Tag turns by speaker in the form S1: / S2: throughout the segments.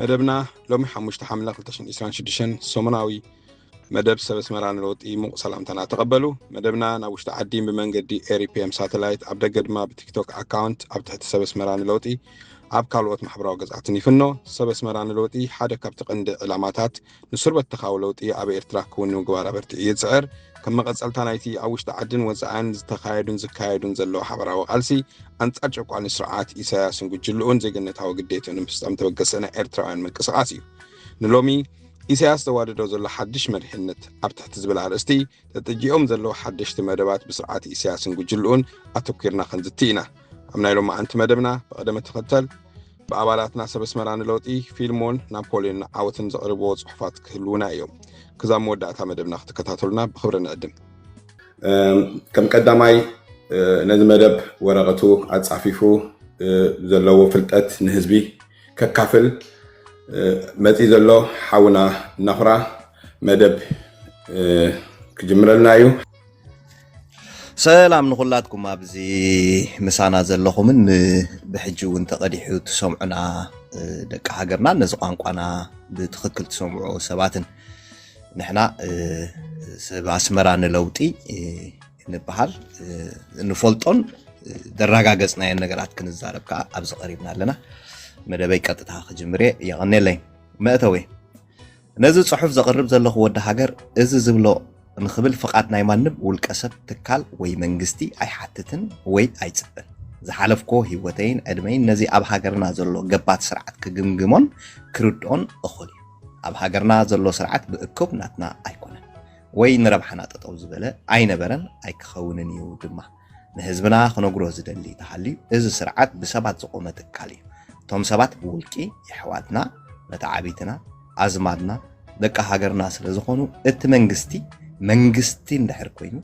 S1: መደብና ሎሚ ሓሙሽተ ሓምለ ክልተ ሽሕን ዒስራን ሽዱሽተን ሰሙናዊ መደብ ሰብ ኣስመራ ንለውጢ ሙቕ ሰላምታና ተቐበሉ መደብና ናብ ውሽጢ ዓዲ ብመንገዲ ኤሪፒኤም ሳተላይት ኣብ ደገ ድማ ብቲክቶክ ኣካውንት ኣብ ትሕቲ ሰብ ኣስመራ ንለውጢ ኣብ ካልኦት ማሕበራዊ ገጻትን ይፍኖ ሰብ ኣስመራ ንለውጢ ሓደ ካብቲ ቀንዲ ዕላማታት ንሱር በተኻዊ ለውጢ ኣብ ኤርትራ ክውን ንምግባር ኣበርቲዑ ይጽዕር ከም መቐጸልታ ናይቲ ኣብ ውሽጢ ዓድን ወፃእን ዝተኻየዱን ዝካየዱን ዘለዎ ሓበራዊ ቃልሲ ኣንጻር ጨቋኒ ስርዓት ኢሳያስን ጉጅልኡን ዜግነታዊ ግዴትኡ ንምፍጻም ተበገሰ ናይ ኤርትራውያን ምንቅስቓስ እዩ ንሎሚ ኢሳያስ ዘዋደዶ ዘሎ ሓድሽ መሪሕነት ኣብ ትሕቲ ዝብል ኣርእስቲ ተጠጂኦም ዘለዉ ሓደሽቲ መደባት ብስርዓት ኢሳያስን ጉጅልኡን ኣተኲርና ክንዝቲ ኢና ኣብ ናይ ሎሚ ኣንቲ መደብና ብቐደመ ተኸተል ብኣባላትና ሰብ ኣስመራ ንለውጢ ፊልሞን ናፖልዮን ዓወትን ዘቕርብዎ ጽሑፋት ክህልዉና እዮም። ክዛብ መወዳእታ መደብና ክትከታተሉና ብኽብሪ ንዕድም። ከም ቀዳማይ ነዚ መደብ ወረቐቱ ኣጻፊፉ ዘለዎ ፍልጠት ንህዝቢ ከካፍል መጺ ዘሎ ሓውና ናኹራ መደብ ክጅምረልና እዩ። ሰላም
S2: ንኹላትኩም ኣብዚ ምሳና ዘለኹምን ብሕጂ እውን ተቐዲሑ ትሰምዑና ደቂ ሃገርና ነዚ ቋንቋና ብትኽክል ትሰምዑ ሰባትን ንሕና ሰብ ኣስመራ ንለውጢ ንበሃል ንፈልጦን ዘረጋገፅናየን ነገራት ክንዛረብ ከዓ ኣብዚ ቀሪብና ኣለና መደበይ ቀጥታ ክጅምር እየ የቐኔለይ መእተወይ ነዚ ጽሑፍ ዘቕርብ ዘለኹ ወዲ ሃገር እዚ ዝብሎ ንኽብል ፍቓድ ናይ ማንም ውልቀሰብ፣ ትካል ወይ መንግስቲ ኣይሓትትን ወይ ኣይጽበን። ዝሓለፍኩዎ ህይወተይን ዕድመይን ነዚ ኣብ ሃገርና ዘሎ ገባቲ ስርዓት ክግምግሞን ክርድኦን እኹል እዩ። ኣብ ሃገርና ዘሎ ስርዓት ብእኩብ ናትና ኣይኮነን ወይ ንረብሓና ጠጠው ዝበለ ኣይነበረን ኣይክኸውንን እዩ ድማ። ንህዝብና ክነግሮ ዝደሊ ተሃልዩ እዚ ስርዓት ብሰባት ዝቆመ ትካል እዩ። እቶም ሰባት ብውልቂ የሕዋትና፣ መተዓብይትና፣ ኣዝማድና፣ ደቂ ሃገርና ስለ ዝኾኑ እቲ መንግስቲ መንግስቲ እንድሕር ኮይኑ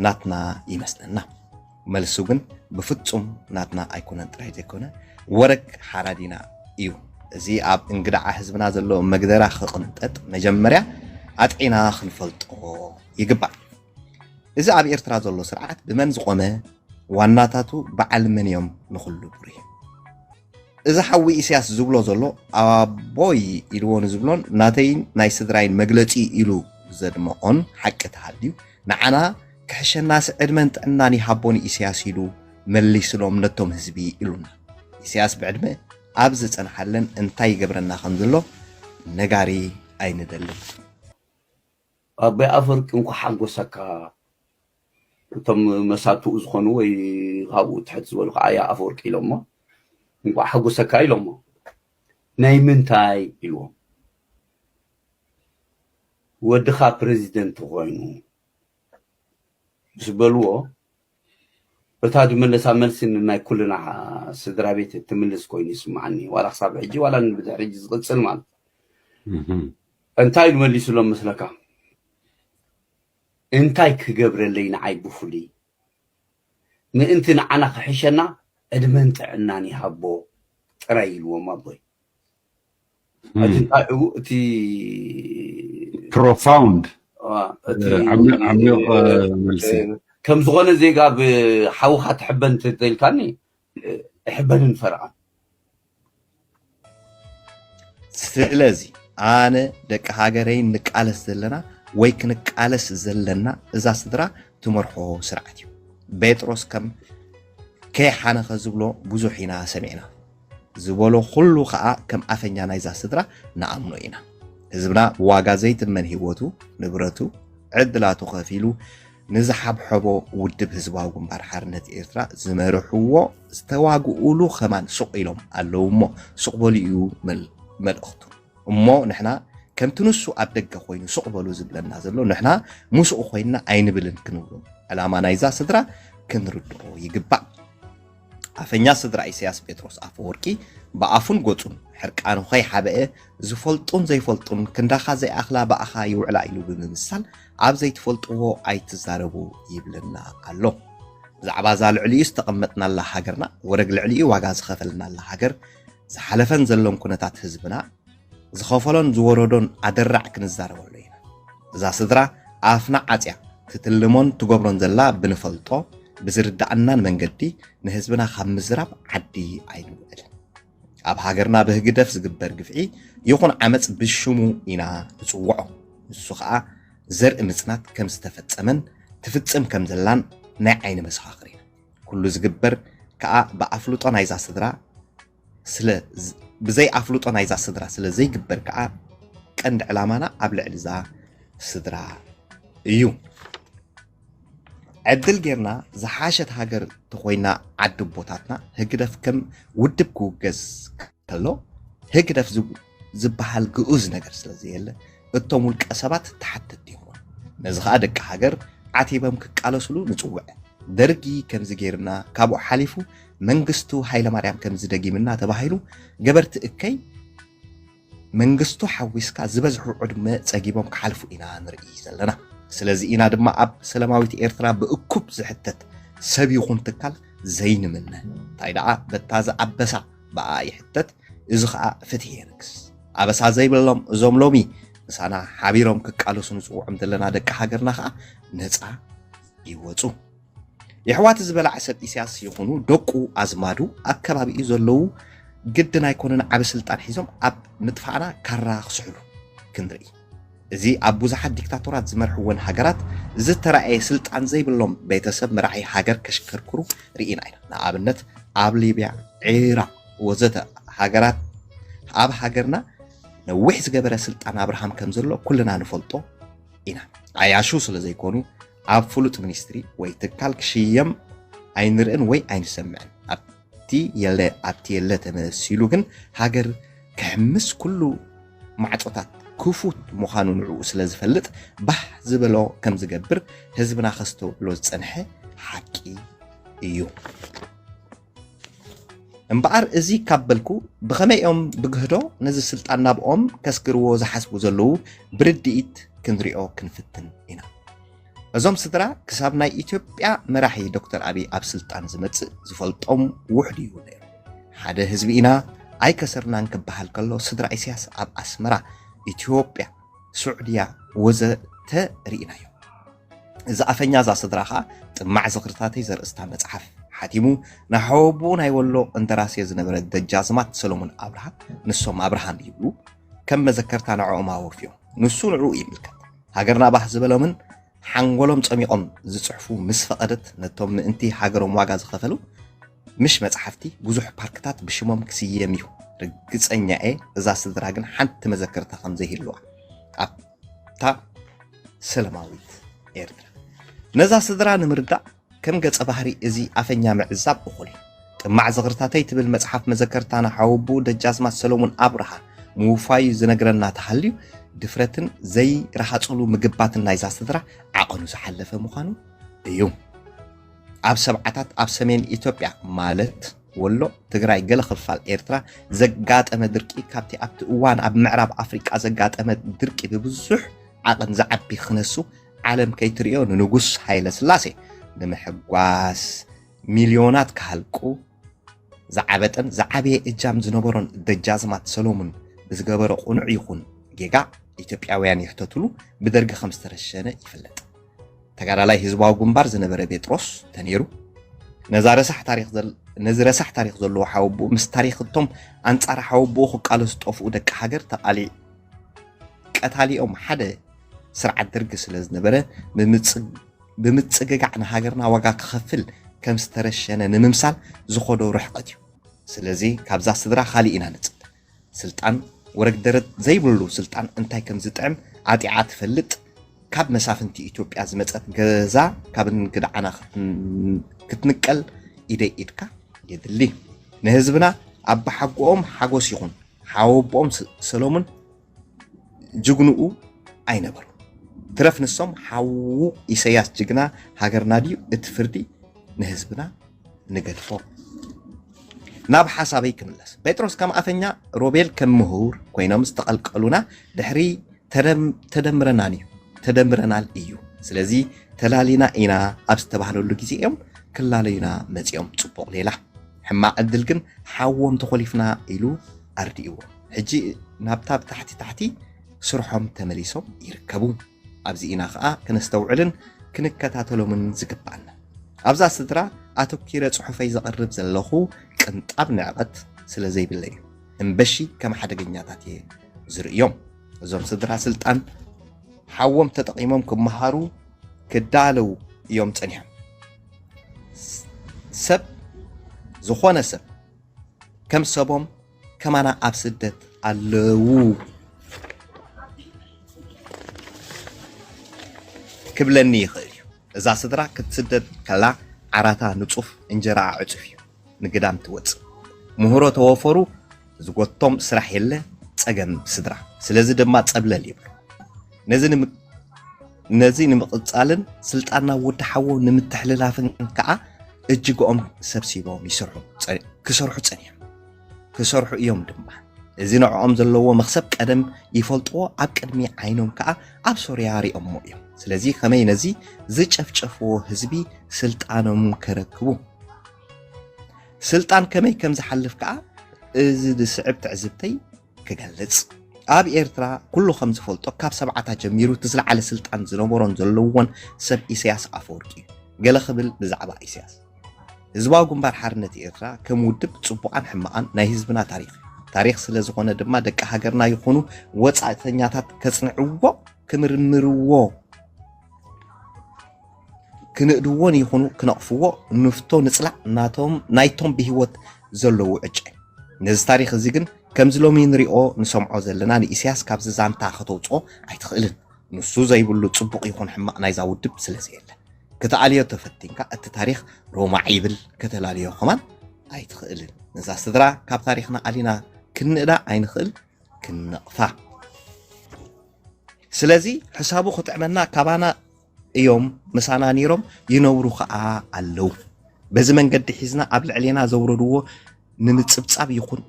S2: ናትና ይመስለና። መልሱ ግን ብፍጹም ናትና ኣይኮነን ጥራይ ዘይኮነ ወረግ ሓራዲና እዩ። እዚ ኣብ እንግድዓ ህዝብና ዘሎ መግደራ ክቕንጠጥ መጀመርያ ኣጥዒና ክንፈልጦ ይግባእ። እዚ ኣብ ኤርትራ ዘሎ ስርዓት ብመን ዝቆመ ዋናታቱ በዓል መን እዮም ንኹሉ ብሩህ እዚ ሓዊ ኢሳያስ ዝብሎ ዘሎ ኣቦይ ኢልዎ ንዝብሎን ናተይን ናይ ስድራይን መግለፂ ኢሉ ዘድመዖን ሓቂ ተሃልዩ ንዓና ክሕሸናሲ ዕድመን ጥዕናን ይሃቦን ኢሳያስ ኢሉ መሊስሎም ነቶም ህዝቢ ኢሉና ኢሳያስ ብዕድመ ኣብ ዝፀንሓለን እንታይ ይገብረና ከም ዘሎ ነጋሪ ኣይንደልን
S3: ኣቦይ ኣፈወርቂ እንኳዕ ሓጎሰካ እቶም መሳቱኡ ዝኾኑ ወይ ካብኡ ትሕት ዝበሉ ከዓ ኣያ ኣፈወርቂ ኢሎሞ እንኳዕ ሓጎሰካ ኢሎሞ ናይ ምንታይ ኢልዎም ወድኻ ፕረዚደንት ኮይኑ ምስ በልዎ እታ ዝመለሳ መልሲ ንናይ ኩልና ስድራ ቤት እትምልስ ኮይኑ ይስማዓኒ ዋላ ክሳብ ሕጂ ዋላ ንብድሕሪ ሕጂ ዝቕፅል ማለት እንታይ ኢሉ መሊሱሎም መስለካ? እንታይ ክገብረለይ ንዓይ ብፍሉይ ምእንቲ ንዓና ክሕሸና ዕድመን ጥዕናን ይሃቦ ጥራይ ኢልዎም ኣቦይ። ሕጂ እንታይ እዩ እቲ
S4: profound ዓሚቕ መልሲ። ከም ዝኾነ
S3: ዜጋ ብሓውኻ ትሕበን እንተተልካኒ እሕበንን ፈርቓን።
S2: ስለዚ ኣነ ደቂ ሃገረይ ንቃለስ ዘለና ወይ ክንቃለስ ዘለና እዛ ስድራ ትመርሖ ስርዓት እዩ ጴጥሮስ ከም ከይሓነኸ ዝብሎ ብዙሕ ኢና ሰሚዕና ዝበሎ ኩሉ ከዓ ከም ኣፈኛ ናይዛ ስድራ ንኣምኖ ኢና ህዝብና ብዋጋ ዘይትመን ህይወቱ ንብረቱ ዕድላቱ ከፊሉ ንዝሓብሐቦ ውድብ ህዝባዊ ግንባር ሓርነት ኤርትራ ዝመርሕዎ ዝተዋግኡሉ ከማን ሱቕ ኢሎም ኣለዉ እሞ ሱቕ በሉ እዩ መልእኽቱ እሞ ንሕና ከምቲ ንሱ ኣብ ደገ ኮይኑ ሱቕ በሉ ዝብለና ዘሎ ንሕና ምስኡ ኮይንና ኣይንብልን ክንብሉ ዕላማ ናይዛ ስድራ ክንርድኦ ይግባእ። ኣፈኛ ስድራ ኢሰያስ ጴጥሮስ ኣፈወርቂ ብኣፉን ገጹን ሕርቃኑ ከይሓበአ ዝፈልጡን ዘይፈልጡን ክንዳኻ ዘይኣኽላ ብኣኻ ይውዕላ ኢሉ ብምምሳል ኣብ ዘይትፈልጥዎ ኣይትዛረቡ ይብለና ኣሎ። ብዛዕባ እዛ ልዕሊኡ ዝተቐመጥናላ ሃገርና ወረግ ልዕሊኡ ዋጋ ዝኸፈልናላ ሃገር ዝሓለፈን ዘሎን ኩነታት ህዝብና ዝኸፈሎን ዝወረዶን ኣደራዕ ክንዛረበሉ ኢና። እዛ ስድራ ኣፍና ዓጽያ ትትልሞን ትገብሮን ዘላ ብንፈልጦ ብዝርድኣናን መንገዲ ንህዝብና ካብ ምዝራብ ዓዲ ኣይንውዕልን። ኣብ ሃገርና ብህግደፍ ዝግበር ግፍዒ ይኹን ዓመጽ ብሽሙ ኢና ንጽውዖ። ንሱ ኸኣ ዘርኢ ምጽናት ከም ዝተፈጸመን ትፍጽም ከም ዘላን ናይ ዓይኒ መሰኻኽር ኢና። ኩሉ ዝግበር ከኣ ብኣፍልጦ ናይዛ ስድራ ስለ ብዘይ ኣፍልጦ ናይዛ ስድራ ስለ ዘይግበር ከዓ ቀንዲ ዕላማና ኣብ ልዕሊ እዛ ስድራ እዩ ዕድል ጌርና ዝሓሸት ሃገር ተኮይና ዓዲ ቦታትና ህግደፍ ከም ውድብ ክውገዝ ከሎ ህግደፍ ዝበሃል ግኡዝ ነገር ስለ ዘየለ እቶም ውልቀ ሰባት ተሓተትቲ ይኾኑ። ነዚ ኸኣ ደቂ ሃገር ዓቲበም ክቃለሱሉ ንጽውዕ። ደርጊ ከምዚ ገይርና ካብኡ ሓሊፉ መንግስቱ ሃይለማርያም ከምዚ ደጊምና ተባሂሉ ገበርቲ እከይ መንግስቱ ሓዊስካ ዝበዝሑ ዕድመ ጸጊቦም ክሓልፉ ኢና ንርኢ ዘለና። ስለዚ ኢና ድማ ኣብ ሰለማዊት ኤርትራ ብእኩብ ዝሕተት ሰብ ይኹን ትካል ዘይንምነ። እንታይ ደኣ በታ ዝኣበሳ ብኣኣ ይሕተት እዚ ኸኣ ፍትሒ የንግስ። ኣበሳ ዘይብሎም እዞም ሎሚ ምሳና ሓቢሮም ክቃለሱ ንጽውዖም ዘለና ደቂ ሃገርና ኸኣ ነጻ ይወጹ። የሕዋት እዚ በላዕ ሰብ ኢስያስ ይኹኑ ደቁ ኣዝማዱ ኣብ ከባቢኡ ዘለዉ ግድን ኣይኮነን ዓቢ ስልጣን ሒዞም ኣብ ምጥፋእና ካራ ክስሕሉ ክንርኢ። እዚ ኣብ ብዙሓት ዲክታቶራት ዝመርሕወን ሃገራት ዝተራእየ ስልጣን ዘይብሎም ቤተሰብ መራሒ ሃገር ከሽከርክሩ ርኢና ኢና። ንኣብነት ኣብ ሊብያ፣ ዒራቕ ወዘተ ሃገራት ኣብ ሃገርና ነዊሕ ዝገበረ ስልጣን ኣብርሃም ከም ዘሎ ኩልና ንፈልጦ ኢና። ዓያሹ ስለ ዘይኮኑ ኣብ ፍሉጥ ሚኒስትሪ ወይ ትካል ክሽየም ኣይንርእን ወይ ኣይንሰምዕን። እቲ የለ ኣብቲ የለ ተመሲሉ ግን ሃገር ክሕምስ ኩሉ ማዕጾታት ክፉት ምዃኑ ንዕኡ ስለ ዝፈልጥ ባህ ዝበሎ ከም ዝገብር ህዝብና ከስተውዕሎ ዝጸንሐ ሓቂ እዩ። እምበኣር እዚ ካብ በልኩ ብኸመይ እዮም ብግህዶ ነዚ ስልጣን ናብኦም ከስግርዎ ዝሓስቡ ዘለዉ ብርድኢት ክንሪኦ ክንፍትን ኢና እዞም ስድራ ክሳብ ናይ ኢትዮጵያ መራሒ ዶክተር ኣብይ ኣብ ስልጣን ዝመጽእ ዝፈልጦም ውሕድ እዩ ነይሩ። ሓደ ህዝቢ ኢና ኣይከሰርናን ክበሃል ከሎ ስድራ ኢሳያስ ኣብ ኣስመራ፣ ኢትዮጵያ፣ ሱዕድያ ወዘተ ርኢናዮ። እዚ ኣፈኛ እዛ ስድራ ኸዓ ጥማዕ ዝኽርታተይ ዘርእስታ መጽሓፍ ሓቲሙ ንሓወቦኡ ናይ ወሎ እንደራሴ ዝነበረ ደጃዝማት ሰሎሞን ኣብርሃ ንሶም ኣብርሃም ይብሉ ከም መዘከርታ ንዕኦም ኣወፍዮም ንሱ ንዕኡ ይምልከት ሃገርና ባህ ዝበሎምን ሓንጎሎም ጸሚቖም ዝጽሕፉ ምስ ፈቐደት ነቶም ምእንቲ ሃገሮም ዋጋ ዝኸፈሉ ምሽ መጽሓፍቲ ብዙሕ ፓርክታት ብሽሞም ክስየም እዩ። ርግጸኛ እየ እዛ ስድራ ግን ሓንቲ መዘከርታ ከም ዘይህልዋ ኣብታ ሰለማዊት ኤርትራ ነዛ ስድራ ንምርዳእ ከም ገጸ ባህሪ እዚ ኣፈኛ ምዕዛብ እኹል። ጥማዕ ዝኽርታተይ ትብል መጽሓፍ መዘከርታና ሓወቡኡ ደጃዝማች ሰለሙን ኣብርሃ ምውፋዩ ዝነግረና ተሃልዩ ድፍረትን ዘይረሃጽሉ ምግባትን ናይዛ ስድራ ዓቐኑ ዝሓለፈ ምዃኑ እዩ። ኣብ ሰብዓታት ኣብ ሰሜን ኢትዮጵያ ማለት ወሎ፣ ትግራይ፣ ገለ ክፋል ኤርትራ ዘጋጠመ ድርቂ ካብቲ ኣብቲ እዋን ኣብ ምዕራብ ኣፍሪቃ ዘጋጠመ ድርቂ ብብዙሕ ዓቐን ዝዓቢ ክነሱ ዓለም ከይትርእዮ ንንጉስ ሃይለ ስላሴ ንምሕጓስ ሚልዮናት ክሃልቁ ዝዓበጠን ዝዓበየ እጃም ዝነበሮን ደጃዝማት ሰሎሙን ብዝገበሮ ቁኑዕ ይኹን ጌጋ ኢትዮጵያውያን ይሕተትሉ ብደርጊ ከም ዝተረሸነ ይፍለጥ። ተጋዳላይ ህዝባዊ ግንባር ዝነበረ ቤጥሮስ ተኔሩ ነዚ ረሳሕ ታሪክ ዘለዎ ሓወብኡ ምስ ታሪክ እቶም ኣንፃር ሓወብኡ ክቃለሱ ዝጠፍኡ ደቂ ሃገር ተቃሊ ቀታሊኦም ሓደ ስርዓት ደርጊ ስለ ዝነበረ ብምጽግጋዕ ንሃገርና ዋጋ ክኸፍል ከም ዝተረሸነ ንምምሳል ዝኸዶ ርሕቐት እዩ። ስለዚ ካብዛ ስድራ ካልእ ኢና ንጽበ። ስልጣን ወረግደረት ዘይብሉ ስልጣን እንታይ ከም ዝጥዕም ዓጢቓ ትፈልጥ ካብ መሳፍንቲ ኢትዮጵያ ዝመጸት ገዛ ካብ እንግድዓና ክትንቀል ኢደይ ኢድካ የድሊ። ንህዝብና ኣባሓጎኦም ሓጎስ ይኹን ሓወቦኦም ሰለሙን ጅግንኡ ኣይነበሩ ትረፍ ንሶም ሓዉ ኢሰያስ ጅግና ሃገርና ድዩ እቲ ፍርዲ ንህዝብና ንገድፎ ናብ ሓሳበይ ክምለስ ጴጥሮስ ከም ኣፈኛ ሮቤል ከም ምሁር ኮይኖም ዝተቐልቀሉና ድሕሪ ተደምረናን እዩ ተደምረናል እዩ ስለዚ ተላሊና ኢና ኣብ ዝተባህለሉ ግዜ እዮም ክላለዩና መፂኦም ፅቡቕ ሌላ ሕማቕ ዕድል ግን ሓዎም ተኾሊፍና ኢሉ ኣርድእዎ ሕጂ ናብታ ብታሕቲ ታሕቲ ስርሖም ተመሊሶም ይርከቡ። ኣብዚ ኢና ከኣ ክነስተውዕልን ክንከታተሎምን ዝግባኣና። ኣብዛ ስድራ ኣተኪረ ጽሑፈይ ዘቕርብ ዘለኹ ቅንጣብ ንዕቐት ስለ ዘይብለይ እዩ። እምበሺ ከም ሓደገኛታት እየ ዝርእዮም። እዞም ስድራ ስልጣን ሓዎም ተጠቒሞም ክመሃሩ ክዳለው እዮም ጸኒሖም። ሰብ ዝኾነ ሰብ ከም ሰቦም ከማና ኣብ ስደት ኣለው ክብለኒ ይኽእል እዩ። እዛ ስድራ ክትስደድ ከላ ዓራታ ንጹፍ እንጀራኣ ዕጹፍ እዩ ንግዳም ትወጽእ። ምህሮ ተወፈሩ ዝጎቶም ስራሕ የለ ጸገም ስድራ ስለዚ ድማ ጸብለል ይብሉ። ነዚ ንምቕጻልን ስልጣና ወዲ ሓዎ ንምትሕልላፍን ከዓ እጅግኦም ሰብሲቦም ይስርሑ ክሰርሑ ጸኒሖም ክሰርሑ እዮም ድማ እዚ ንዕኦም ዘለዎ መክሰብ ቀደም ይፈልጥዎ ኣብ ቅድሚ ዓይኖም ከዓ ኣብ ሶርያ ሪኦሞ እዮም ስለዚ ከመይ ነዚ ዝጨፍጨፍዎ ህዝቢ ስልጣኖም ከረክቡ ስልጣን ከመይ ከም ዝሓልፍ ከዓ እዚ ዝስዕብ ትዕዝብተይ ክገልጽ። ኣብ ኤርትራ ኩሉ ከም ዝፈልጦ ካብ ሰብዓታት ጀሚሩ እቲ ዝለዓለ ስልጣን ዝነበሮን ዘለዎን ሰብ ኢሰያስ ኣፈወርቂ እዩ። ገለ ክብል ብዛዕባ ኢሰያስ። ህዝባዊ ግንባር ሓርነት ኤርትራ ከም ውድብ ጽቡቓን ሕማቓን ናይ ህዝብና ታሪኽ እዩ። ታሪኽ ስለ ዝኾነ ድማ ደቂ ሃገርና ይኹኑ ወጻእተኛታት ከጽንዕዎ ክምርምርዎ፣ ክንእድዎን ይኹኑ ክነቕፍዎ ንፍቶ ንጽላእ ናቶም ናይቶም ብህይወት ዘለዉ ዕጨ ነዚ ታሪኽ እዚ ግን ከምዚ ሎሚ ንሪኦ ንሰምዖ ዘለና ንኢሳያስ ካብዚ ዛንታ ከተውፅኦ ኣይትኽእልን ንሱ ዘይብሉ ጽቡቕ ይኹን ሕማቕ ናይዛ ውድብ ስለ ዘየለ ክትኣልዮ ተፈቲንካ እቲ ታሪኽ ሮማዕ ይብል ከተላልዮ ኸማን ኣይትኽእልን ነዛ ስድራ ካብ ታሪኽና ኣሊና ክንእዳ ኣይንኽእል ክንነቕፋ ስለዚ ሕሳቡ ክጥዕመና ካባና እዮም ምሳና ነይሮም ይነብሩ ከዓ ኣለው በዚ መንገዲ ሒዝና ኣብ ልዕሌና ዘውረድዎ ንምፅብፃብ ይኹን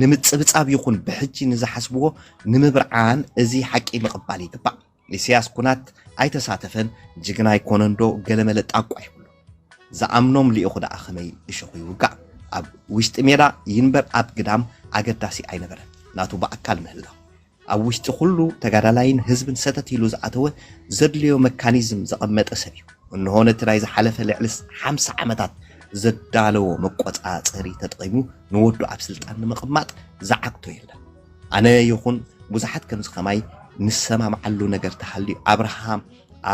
S2: ንምፅብፃብ ይኹን ብሕጂ ንዝሓስብዎ ንምብርዓን እዚ ሓቂ ምቕባል ይግባእ። ኢሳያስ ኩናት ኣይተሳተፈን ጅግና ኣይኮነን ዶ ገለመለ ጣቋ ይብሉ ዝኣምኖም ልኢኹ ደኣ ከመይ እሾኹ ይውጋእ ኣብ ውሽጢ ሜዳ ይንበር ኣብ ግዳም ኣገዳሲ ኣይነበረን ናቱ ብኣካል ምህላው ኣብ ውሽጢ ኩሉ ተጋዳላይን ህዝብን ሰተት ኢሉ ዝኣተወ ዘድልዮ መካኒዝም ዘቐመጠ ሰብ እዩ። እንሆ ነቲ ናይ ዝሓለፈ ልዕሊ ሓምሳ ዓመታት ዘዳለዎ መቆፃፀሪ ተጠቒሙ ንወዱ ኣብ ስልጣን ንምቕማጥ ዝዓግቶ የለን። ኣነ ይኹን ብዙሓት ከምዚ ከማይ ንሰማምዓሉ ነገር ተሃልዩ ኣብርሃም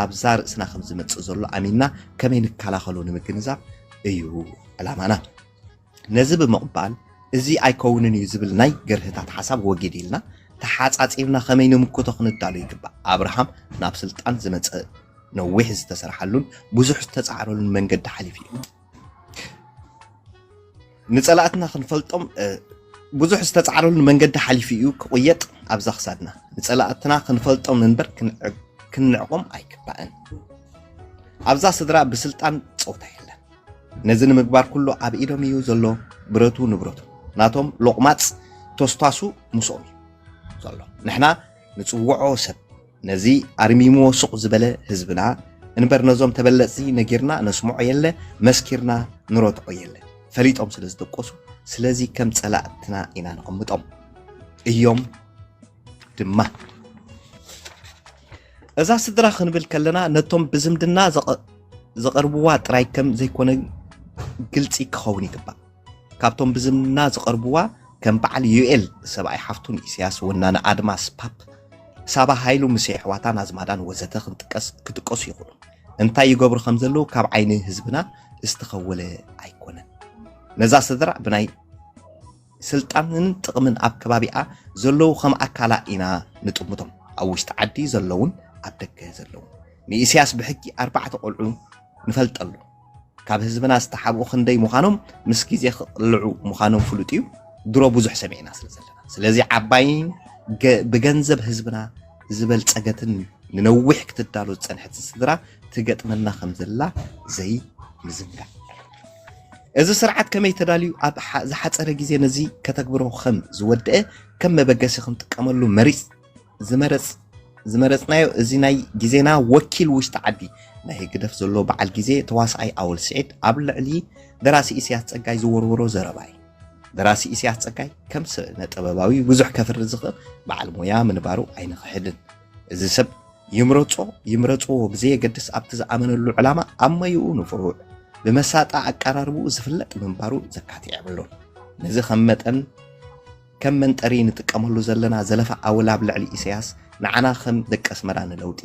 S2: ኣብዛ ርእስና ከምዝመፅእ ዘሎ ኣሚንና ከመይ ንከላኸሎ ንምግንዛብ እዩ ዕላማና። ነዚ ብምቕባል እዚ ኣይከውንን እዩ ዝብል ናይ ግርህታት ሓሳብ ወጊድ ኢልና ተሓጻጺብና ከመይ ንምክቶ ክንዳሎ ይግባእ። ኣብርሃም ናብ ስልጣን ዝመጸ ነዊሕ ዝተሰርሓሉን ብዙሕ ዝተጻዕረሉን መንገዲ ሓሊፉ እዩ። ንጸላእትና ክንፈልጦም ብዙሕ ዝተጻዕረሉ መንገዲ ሓሊፉ እዩ ክቕየጥ ኣብዛ ክሳድና ንጸላእትና ክንፈልጦም እንበር ክንዕቆም ኣይግባእን ኣብዛ ስድራ ብስልጣን ፀውታ የለን ነዚ ንምግባር ኩሉ ኣብ ኢዶም እዩ ዘሎ ብረቱ ንብረቱ ናቶም ሎቕማጽ ቶስታሱ ምስኦም እዩ ዘሎ ንሕና ንጽውዖ ሰብ ነዚ ኣርሚምዎ ሱቕ ዝበለ ህዝብና እንበር ነዞም ተበለጽቲ ነጊርና ነስምዖ የለ መስኪርና ንረትዖ የለ ፈሊጦም ስለ ዝደቆሱ ስለዚ ከም ጸላእትና ኢና ነቐምጦም እዮም ድማ እዛ ስድራ ክንብል ከለና ነቶም ብዝምድና ዝቐርብዋ ጥራይ ከም ዘይኮነ ግልፂ ክኸውን ይግባእ። ካብቶም ብዝምድና ዝቐርብዋ ከም በዓል ዩኤል ሰብኣይ ሓፍቱን ኢሳያስ ወናነ ኣድማስ ፓፕ ሳባ ሃይሉ ምስ የሕዋታን ኣዝማዳን ወዘተ ክንጥቀስ ክጥቀሱ ይኽእሉ እንታይ ይገብሩ ከም ዘለዉ ካብ ዓይኒ ህዝብና ዝተኸወለ ኣይኮነን ነዛ ስድራ ብናይ ስልጣንን ጥቕምን ኣብ ከባቢኣ ዘለዉ ከም ኣካላ ኢና ንጥምቶም፣ ኣብ ውሽጢ ዓዲ ዘለዉን ኣብ ደገ ዘለዉን። ንኢሲያስ ብሕጂ ኣርባዕተ ቆልዑ ንፈልጠሉ ካብ ህዝብና ዝተሓብኡ ክንደይ ምዃኖም ምስ ግዜ ክቕልዑ ምዃኖም ፍሉጥ'ዩ፣ ድሮ ብዙሕ ሰሚዕና ስለ ዘለና። ስለዚ ዓባይን ብገንዘብ ህዝብና ዝበልጸገትን ንነዊሕ ክትዳሎ ዝጸንሐትን ስድራ ትገጥመና ከም ዘላ ዘይምዝንጋዕ። እዚ ስርዓት ከመይ ተዳልዩ ኣብ ዝሓፀረ ግዜ ነዚ ከተግብሮ ከም ዝወደአ ከም መበገሲ ክንጥቀመሉ መሪፅ ዝመረፅ ዝመረፅናዮ እዚ ናይ ግዜና ወኪል ውሽጢ ዓዲ ናይ ህግደፍ ዘሎ በዓል ግዜ ተዋስኣይ ኣወል ስዒድ ኣብ ልዕሊ ደራሲ ኢስያስ ጸጋይ ዝወርውሮ ዘረባ እዩ ደራሲ ኢስያስ ጸጋይ ከም ስነ ጥበባዊ ብዙሕ ከፍሪ ዝኽእል በዓል ሞያ ምንባሩ ኣይንኽሕድን እዚ ሰብ ይምረጾ ይምረጽዎ ብዘየገድስ ኣብቲ ዝኣመነሉ ዕላማ ኣብ መይኡ ንፉዕ ብመሳጣ ኣቀራርብኡ ዝፍለጥ ምንባሩ ዘካትዕ የብሉን። ነዚ ከም መጠን ከም መንጠሪ ንጥቀመሉ ዘለና ዘለፋ ኣወል ኣብ ልዕሊ ኢሰያስ ንዓና ከም ደቂ ኣስመራ ንለውጢ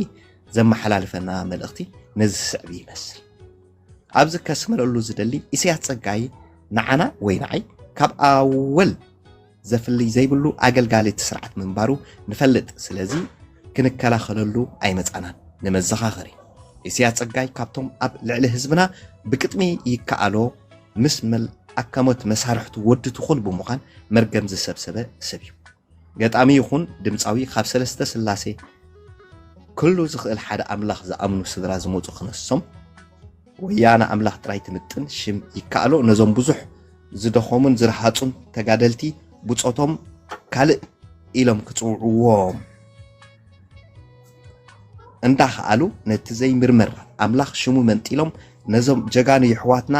S2: ዘመሓላልፈና መልእኽቲ ነዚ ዝስዕብ ይመስል። ኣብዚ ከስምረሉ ዝደሊ ኢሰያስ ጸጋይ ንዓና ወይ ንዓይ ካብ ኣወል ዘፍልይ ዘይብሉ ኣገልጋሊ እቲ ስርዓት ምንባሩ ንፈልጥ ስለዚ ክንከላኸለሉ ኣይመፃእናን። ንመዘኻኸሪ። ኢሰያስ ፀጋይ ካብቶም ኣብ ልዕሊ ህዝብና ብቅጥሚ ይከኣሎ ምስ መል ኣካሞት መሳርሕቱ ወዲ ትኹል ብምዃን መርገም ዝሰብሰበ ሰብ እዩ። ገጣሚ ይኹን ድምፃዊ ካብ ሰለስተ ስላሴ፣ ክሉ ዝኽእል ሓደ ኣምላኽ፣ ዝኣምኑ ስድራ ዝመፁ ክነሶም፣ ወያነ ኣምላኽ ጥራይ ትምጥን ሽም ይከኣሎ ነዞም ብዙሕ ዝደኸሙን ዝረሃጹን ተጋደልቲ ብጾቶም ካልእ ኢሎም ክጽውዕዎም እንዳኸኣሉ ነቲ ዘይምርመር ኣምላኽ ሽሙ መንጢሎም ነዞም ጀጋኑ የሕዋትና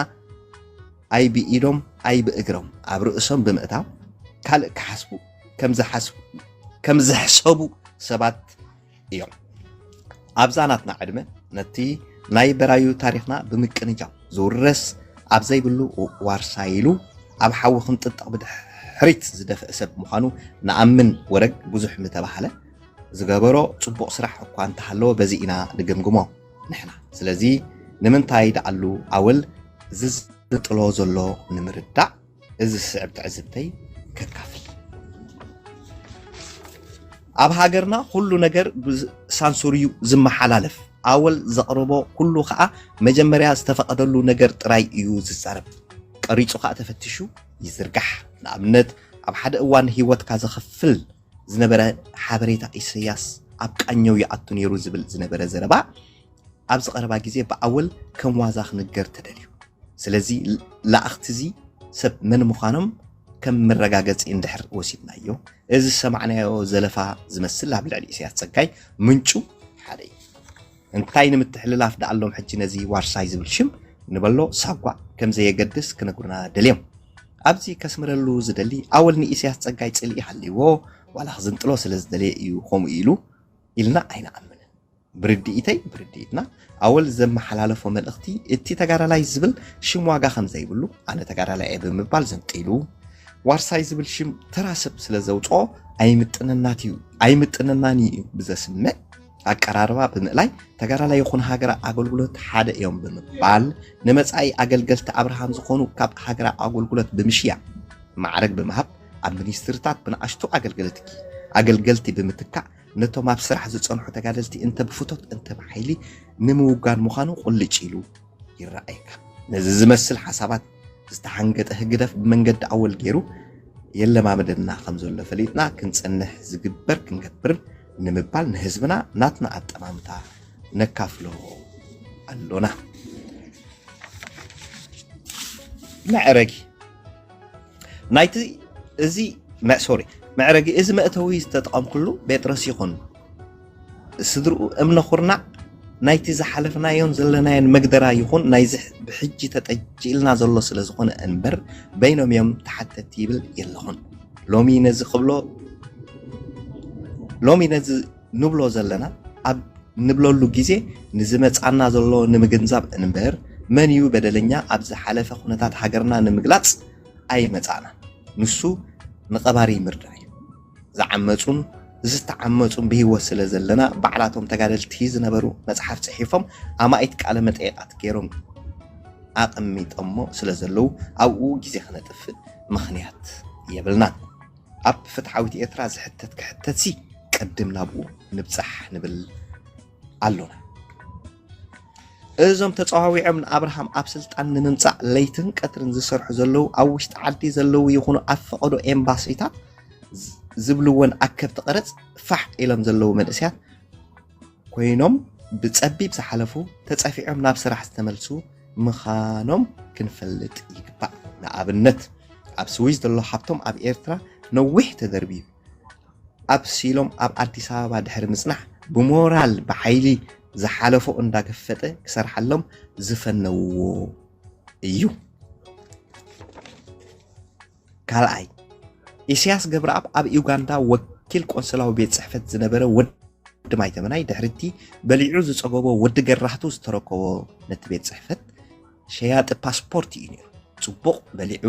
S2: ኣይ ብኢዶም ኣይ ብእግሮም ኣብ ርእሶም ብምእታው ካልእ ክሓስቡ ከም ዝሕሰቡ ሰባት እዮም። ኣብዛ ናትና ዕድመ ነቲ ናይ በራዩ ታሪኽና ብምቅንጃው ዝውረስ ኣብ ዘይብሉ ዋርሳ ኢሉ ኣብ ሓዊ ክንጥጠቕ ብድሕሪት ዝደፍእ ሰብ ምዃኑ ንኣምን ወረግ ብዙሕ ምተባህለ ዝገበሮ ጽቡቕ ስራሕ እኳ እንተሃለወ በዚ ኢና ንግምግሞ ንሕና ስለዚ ንምንታይ ደኣሉ ኣወል ዝዝጥሎ ዘሎ ንምርዳእ እዚ ዝስዕብ ትዕዝብተይ ከካፍል ኣብ ሃገርና ኩሉ ነገር ብሳንሱር እዩ ዝመሓላለፍ ኣወል ዘቕርቦ ኩሉ ከዓ መጀመርያ ዝተፈቐደሉ ነገር ጥራይ እዩ ዝዛረብ ቀሪፁ ከዓ ተፈትሹ ይዝርጋሕ ንኣብነት ኣብ ሓደ እዋን ህይወትካ ዘኸፍል ዝነበረ ሓበሬታ ኢሰያስ ኣብ ቃኘው ይኣቱ ነይሩ ዝብል ዝነበረ ዘረባ ኣብዚ ቀረባ ግዜ ብዓወል ከም ዋዛ ክንገር ተደልዩ። ስለዚ ለኣኽቲ እዚ ሰብ መን ምዃኖም ከም መረጋገጺ እንድሕር ወሲድናዮ፣ እዚ ዝሰማዕናዮ ዘለፋ ዝመስል ኣብ ልዕሊ ኢሰያስ ጸጋይ ምንጩ ሓደ እዩ። እንታይ ንምትሕልላፍ ደኣሎም ሕጂ ነዚ ዋርሳይ ዝብል ሽም ንበሎ ሳጓ ከም ዘየገድስ ክነግሩና ደልዮም። ኣብዚ ከስምረሉ ዝደሊ ኣወል ንኢሰያስ ጸጋይ ጽልኢ ሃልይዎ ዋላ ክዝንጥሎ ስለ ዝደለየ እዩ ከምኡ ኢሉ ኢልና ኣይንኣምንን። ብርድኢተይ ብርድኢትና ኣወል ዘመሓላለፎ መልእኽቲ እቲ ተጋዳላይ ዝብል ሽም ዋጋ ከም ዘይብሉ ኣነ ተጋዳላይ እየ ብምባል ዘንጢሉ ዋርሳይ ዝብል ሽም ተራ ሰብ ስለ ዘውፅኦ ኣይምጥነናት እዩ ኣይምጥነናን እዩ ብዘስምዕ ኣቀራርባ ብምእላይ ተጋዳላይ ይኹን ሃገራ ኣገልግሎት ሓደ እዮም ብምባል ንመፃኢ ኣገልገልቲ ኣብርሃም ዝኾኑ ካብ ሃገራ ኣገልግሎት ብምሽያ ማዕረግ ብምሃብ ኣብ ሚኒስትርታት ብንኣሽቱ ኣገልገልቲ ኣገልገልቲ ብምትካእ ነቶም ኣብ ስራሕ ዝጸንሑ ተጋደልቲ እንተ ብፍቶት እንተ ብሓይሊ ንምውጋን ምዃኑ ቁልጭ ኢሉ ይረኣየካ። ነዚ ዝመስል ሓሳባት ዝተሓንገጠ ህግደፍ ብመንገዲ ኣወል ገይሩ የለማምደና ከም ዘሎ ፈሊጥና ክንጸንሕ ዝግበር ክንገብርን ንምባል ንህዝብና ናትና ኣጠማምታ ነካፍሎ ኣሎና። መዕረጊ ናይቲ እዚ ሶሪ መዕረጊ እዚ መእተዊ ዝተጠቐምኩሉ ጴጥሮስ ይኹን ስድርኡ እምነ ኩርናዕ ናይቲ ዝሓለፍናዮን ዘለናዮን መግደራ ይኹን ናይዚ ብሕጂ ተጠጅኢልና ዘሎ ስለ ዝኾነ እንበር በይኖም እዮም ተሓተቲ ይብል የለኹን ሎሚ ነዚ ክብሎ ሎሚ ነዚ ንብሎ ዘለና ኣብ ንብለሉ ግዜ ንዝመጽኣና ዘሎ ንምግንዛብ እንበር መን እዩ በደለኛ ኣብ ዝሓለፈ ኩነታት ሃገርና ንምግላጽ ኣይመጻእናን ንሱ ንቀባሪ ምርዳእ እዩ ዝዓመጹን ዝተዓመጹን ብሂወት ስለ ዘለና ባዕላቶም ተጋደልቲ ዝነበሩ መጽሓፍ ጽሒፎም ኣማኢት ቃለ መጠይቃት ገይሮም ኣቐሚጠሞ ስለ ዘለዉ ኣብኡ ግዜ ክነጥፍእ ምኽንያት የብልናን። ኣብ ፍትሓዊት ኤርትራ ዝሕተት ክሕተትሲ ቅድም ናብኡ ንብጻሕ ንብል ኣሎና። እዞም ተጸዋዊዖም ንኣብርሃም ኣብ ስልጣን ንምምጻእ ለይትን ቀትርን ዝሰርሑ ዘለዉ ኣብ ውሽጢ ዓዲ ዘለዉ ይኹኑ ኣብ ፈቐዶ ኤምባሲታት ዝብልወን ኣከብቲ ቀረጽ ፋሕ ኢሎም ዘለዉ መንእስያት ኮይኖም ብፀቢብ ዝሓለፉ ተፀፊዖም ናብ ስራሕ ዝተመልሱ ምኻኖም ክንፈልጥ ይግባእ። ንኣብነት ኣብ ስዊዝ ዘሎ ሓብቶም ኣብ ኤርትራ ነዊሕ ተደርብዩ ኣብሲሎም ኣብ ኣዲስ ኣበባ ድሕሪ ምፅናሕ ብሞራል ብሓይሊ ዝሓለፎ እንዳገፈጠ ክሰርሓሎም ዝፈነውዎ እዩ። ካልኣይ ኢሳያስ ገብረኣብ ኣብ ዩጋንዳ ወኪል ቆንስላዊ ቤት ጽሕፈት ዝነበረ ወዲ ማይተመናይ ድሕሪቲ በሊዑ ዝጸገቦ ወዲ ገራህቱ ዝተረከቦ ነቲ ቤት ጽሕፈት ሸያጢ ፓስፖርት እዩ ነይሩ። ጽቡቕ በሊዑ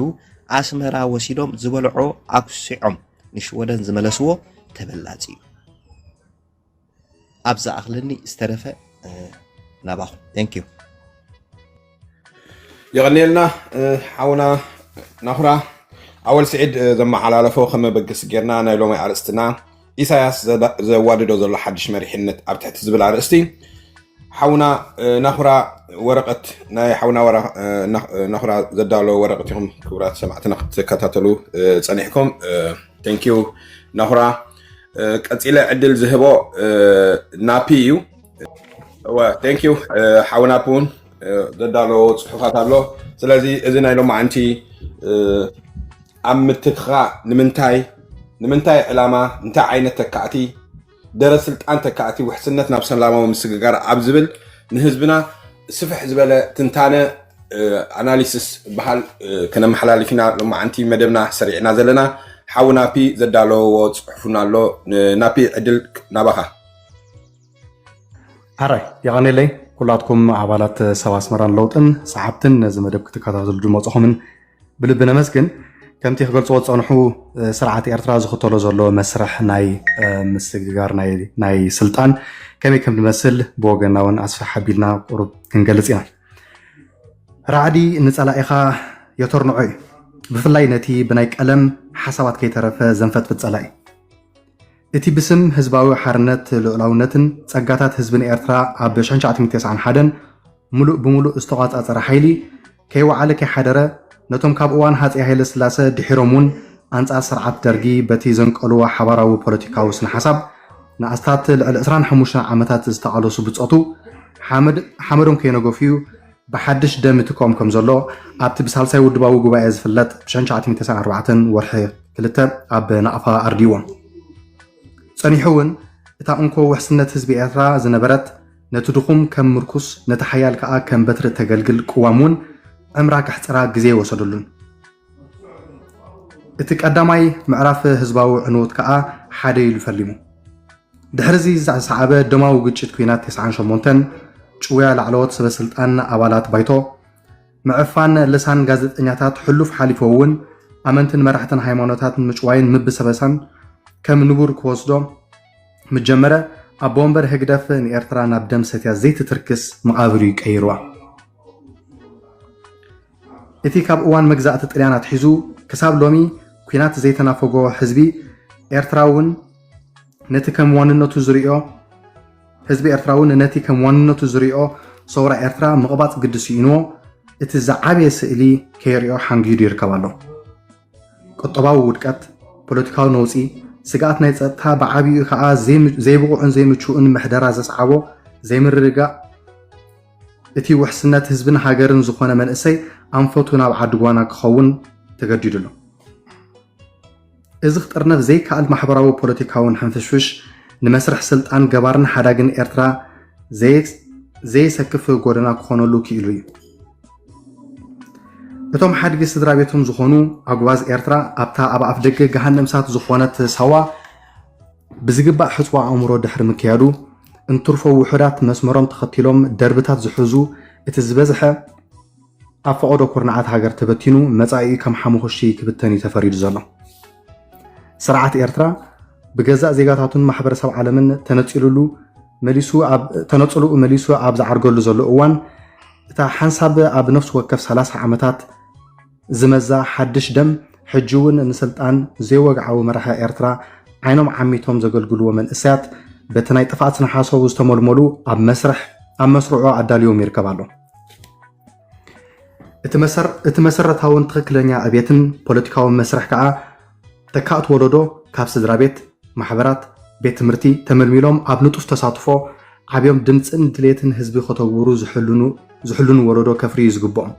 S2: ኣስመራ ወሲዶም ዝበልዖ ኣኩሲዖም ንሽወደን ዝመለስዎ ተበላጺ እዩ። ኣብ ዝኣኽለኒ ዝተረፈ ናባኹም ቴንክ ዩ
S1: የቐንየልና ሓውና ናኹራ ኣወል ስዒድ ዘመሓላለፎ ከመበገሲ ጌርና ናይ ሎሚ ኣርእስትና ኢሳያስ ዘዋድዶ ዘሎ ሓድሽ መሪሕነት ኣብ ትሕቲ ዝብል ኣርእስቲ ሓውና ናኹራ ወረቀት ናይ ሓውና ናኹራ ዘዳለዎ ወረቀት ኢኹም ክቡራት ሰማዕትና ክትከታተሉ ፀኒሕኩም ቴንኪዩ ናኹራ ቀፂለ ዕድል ዝህቦ ናፒ እዩ እወ ቴንክ ዩ ሓው ናፒ እውን ዘዳለዎ ፅሑፋት ኣሎ ስለዚ እዚ ናይ ሎማዓንቲ ኣብ ምትትኻ ንምንታይ ንምንታይ ዕላማ እንታይ ዓይነት ተካእቲ ደረ ስልጣን ተካእቲ ውሕስነት ናብ ሰላማዊ ምስግጋር ኣብ ዝብል ንህዝብና ስፍሕ ዝበለ ትንታነ ኣናሊስስ በሃል ክነመሓላልፍ ኢና ሎማዓንቲ መደብና ሰሪዕና ዘለና ሓዊ ናፒ ዘዳለወዎ ፅሑፍና ኣሎ ናፒ ዕድል ናባኻ
S5: ኣራይ የቐኔለይ ኩላትኩም ኣባላት ሰብ ኣስመራን ለውጥን ሰዓብትን ነዚ መደብ ክትከታተሉ ድመፅኹምን ብልቢ ነመስግን። ከምቲ ክገልፅዎ ዝፀንሑ ስርዓት ኤርትራ ዝኽተሎ ዘሎ መስርሕ ናይ ምስግጋር ናይ ስልጣን ከመይ ከም ዝመስል ብወገና እውን ኣስፍሕ ኣቢልና ቁሩብ ክንገልፅ ኢና። ራዕዲ ንፀላኢኻ የተርንዖ እዩ። ብፍላይ ነቲ ብናይ ቀለም ሓሳባት ከይተረፈ ዘንፈጥፍጥ ፀላኢ እቲ ብስም ህዝባዊ ሓርነት ልኡላውነትን ጸጋታት ህዝብን ኤርትራ ኣብ ሽሕን ትሽዓተ ተስዓን ሓደን ምሉእ ብምሉእ ዝተቖጻጸረ ሓይሊ፣ ከይወዓለ ከይሓደረ፣ ነቶም ካብ እዋን ሃጸይ ሃይለስላሰ ድሒሮም'ውን ኣንጻር ስርዓት ደርጊ በቲ ዘንቀሉዎ ሓባራዊ ፖለቲካዊ ስነ-ሓሳብ ንኣስታት ልዕሊ ዕስራን ሓሙሽተን ዓመታት ዝተቓለሱ ብጾቱ ሓመድ ሓመዶም ከይነገፉ'ዩ ብሓድሽ ደም ይትከኦም ከም ዘሎ ኣብቲ ብሳልሳይ ውድባዊ ጉባኤ ዝፍለጥ ብሸንሸዓቲሚተሰዓርባዕተ ወርሒ ክልተ ኣብ ናቕፋ ኣርድዎም ጸኒሑ እውን እታ እንኮ ውሕስነት ህዝቢ ኤርትራ ዝነበረት ነቲ ድኹም ከም ምርኩስ ነቲ ሓያል ከኣ ከም በትሪ እተገልግል ቅዋም እውን ዕምራ ከሕጽራ ግዜ ወሰደሉን እቲ ቀዳማይ ምዕራፍ ህዝባዊ ዕንወት ከኣ ሓደ ኢሉ ፈሊሙ። ድሕሪዚ ዝሰዓበ ደማዊ ግጭት ኲናት ተስዓን ሸሞንተን፣ ጭውያ ላዕለዎት ሰበስልጣን ኣባላት ባይቶ፣ ምዕፋን ልሳን ጋዜጠኛታት ሕሉፍ ሓሊፎ'ውን ኣመንትን መራሕትን ሃይማኖታት ንምጭዋይን ምብሰበሳን ከም ንቡር ክወስዶ ምጀመረ፣ ኣቦ ወንበር ህግደፍ ንኤርትራ ናብ ደም ሰትያ ዘይትትርክስ መቓብር'ዩ ቀይርዋ። እቲ ካብ እዋን መግዛእቲ ጥልያን ኣትሒዙ ክሳብ ሎሚ ኩናት ዘይተናፈጎ ህዝቢ ኤርትራ'ውን ነቲ ከም ዋንነቱ ዝሪኦ ህዝቢ ኤርትራ'ውን ነቲ ከም ዋንነቱ ዝሪኦ ሰውራ ኤርትራ ምቕባጽ ግዲ ስኢንዎ እቲ ዝዓበየ ስእሊ ከይሪኦ ሓንጊዱ ይርከብ ኣሎ። ቁጠባዊ ውድቀት፣ ፖለቲካዊ ነውጺ፣ ስግኣት ናይ ጸጥታ ብዓቢኡ ከኣ ዘይብቑዕን ዘይምቹእን ምሕደራ ዘስዓቦ ዘይምርግጋእ፣ እቲ ውሕስነት ህዝብን ሃገርን ዝኾነ መንእሰይ ኣንፈቱ ናብ ዓዲ ጓና ክኸውን ተገዲዱ ኣሎ። እዚ ክጥርነፍ ዘይከኣል ማሕበራዊ ፖለቲካውን ሕንፍሽፍሽ ንመስርሕ ስልጣን ገባርን ሓዳግን ኤርትራ ዘየሰክፍ ጎደና ክኾነሉ ክኢሉ እዩ። እቶም ሓድጊ ስድራ ቤቶም ዝኾኑ ኣጉባዝ ኤርትራ ኣብታ ኣብ ኣፍደገ ገሃነም እሳት ዝኾነት ሳዋ ብዝግባእ ሕጽቦ ኣእምሮ ድሕሪ ምክያዱ፣ እንትርፎ ውሑዳት መስመሮም ተኸቲሎም ደርብታት ዝሕዙ፣ እቲ ዝበዝሐ ኣብ ፈቐዶ ኩርናዓት ሃገር ተበቲኑ መጻኢኡ ከም ሓሙኹሽቲ ክብተን እዩ ተፈሪዱ ዘሎ። ስርዓት ኤርትራ ብገዛእ ዜጋታቱን ማሕበረሰብ ዓለምን ተነጺሉሉ መሊሱ ኣብ ተነጽሉኡ መሊሱ ኣብ ዝዓርገሉ ዘሎ እዋን እታ ሓንሳብ ኣብ ነፍሲ ወከፍ ሰላሳ ዓመታት ዝመዛ ሓድሽ ደም ሕጂ ውን ንስልጣን ዘይወግዓዊ መራሒ ኤርትራ ዓይኖም ዓሚቶም ዘገልግልዎ መንእሰያት በቲ ናይ ጥፍኣት ስነሓሰቡ ዝተመልመሉ ኣብ መስርሕ ኣብ መስርዑ ኣዳልዮም ይርከብ ኣሎ። እቲ መሰረታውን ትኽክለኛ ዕቤትን ፖለቲካዊ መስርሕ ከኣ ተካእቲ ወለዶ ካብ ስድራ ቤት፣ ማሕበራት፣ ቤት ትምህርቲ ተመልሚሎም ኣብ ንጡፍ ተሳትፎ ዓብዮም ድምጽን ድሌትን ህዝቢ ከተግብሩ ዝሕልኑ ወለዶ ከፍርዩ እዩ ዝግብኦም።